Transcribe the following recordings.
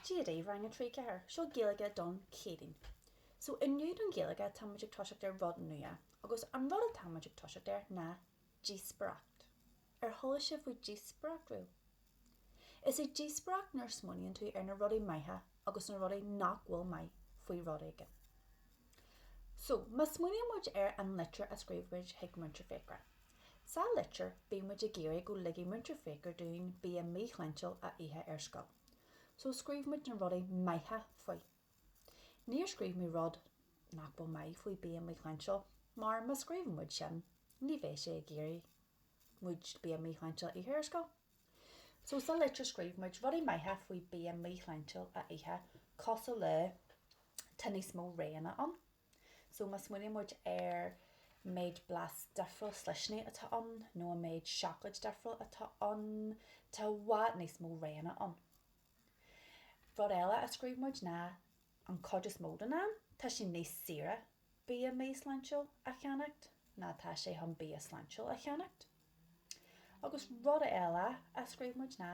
Dia daoibh, Rang 3, Ceathair, seo Gaeilge don Chéadaoin. So inniu don Ghaeilge tá muid ag toiseacht ar rud nua agus an rud atá muid ag toiseacht air ná díospoireacht. Ar chuala sibh faoi díospoireacht riamh? Is í díospoireacht nuair smaoiníonn tú ar na rudaí maithe agus na rudaí nach bhfuil maith faoi rud éigin. So má smaoiníonn muid ar an litir a scríobh muid chuig Múinteoir Fiachra. Sa litir, bhí muid ag iarraidh go ligfidh Múinteoir Fiachra dúinn bia míshláintiúil a ithe ar scoil. So scríobh muid na rudaí maithe faoi. Níor scríobh muid rud nach bhfuil maith faoi bia míshláintiúil, mar má scríobhann muid sin, ní bheidh sé ag iarraidh muid bia míshláintiúil a ithe ar scoil. So sa litir scríobh muid rudaí maithe faoi bia míshláintiúil a ithe, cosúil le, tá níos mó roghanna ann. So má smaoiníonn muid ar an méid blas difriúil sliseanna atá ann nó an méid seacláid difriúil atá ann, tá i bhfad níos mó roghanna ann. Rud eile a scríobh muid ná an chuid is mó den am tá sé níos saoire bia míshláintiúil a cheannacht ná tá sé chun bia sláintiúil a cheannacht. Agus rud eile a scríobh muid ná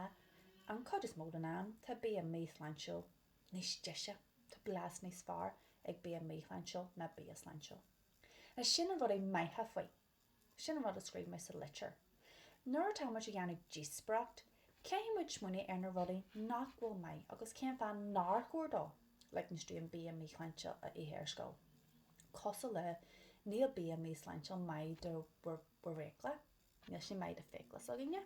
an chuid is mó den am tá bia míshláintiúil níos deise, tá blas níos fearr ag bia míshláintiúil ná bia sláintiúil. Now sin an rudaí maithe faoi. Sin an rud a scríobh muid sa litir. Nuair atá muid ag déanamh díospóireacht, caithfidh muid smaoineamh ar na rudaí nach bhfuil maith agus cén fáth nár chóir dó ligint dúinn bia míshláintiúil a ithe ar scoil. Cosúil le níl bia míshláintiúil maith do bhur bhfiacla. Níl sé maith do fiacla s'againne,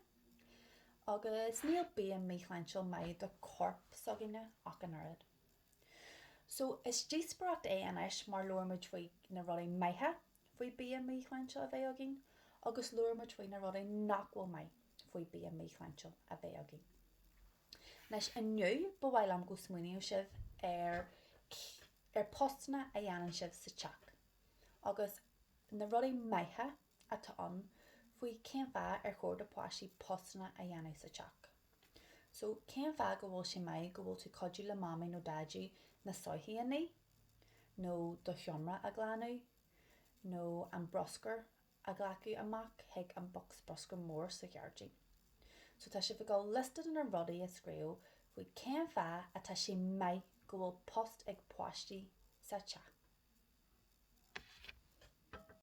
agus níl bia míshláintiúil maith do chorp s'againne ach an oiread. So, is díospoireacht é anois mar labhair muid faoi na rudaí maithe faoi bia míshláintiúil a bheith againn agus labhair muid faoi na rudaí nach bhfuil maith faoi bia míshláintiúil a bheith againn. Anois, inniu, ba mhaith liom go smaoiníonn sibh ar postanna a dhéanann sibh sa teach agus na rudaí maithe atá ann faoi cén fáth ar chóir do pháistí postanna a dhéanamh sa teach. So, cén fáth go bhfuil sé maith go bhfuil tú ag cuidiú le Mamaí nó Daidí na soithí a ní? Nó do sheomra a ghlanadh? Nó an bruscar a ghlacadh amach chuig an bocsa bruscair mór sa ghairdín? So, tá sibh ag dul liosta de na rudaí a scríobh faoi cén fáth atá sé maith go bhfuil post ag páistí sa teach.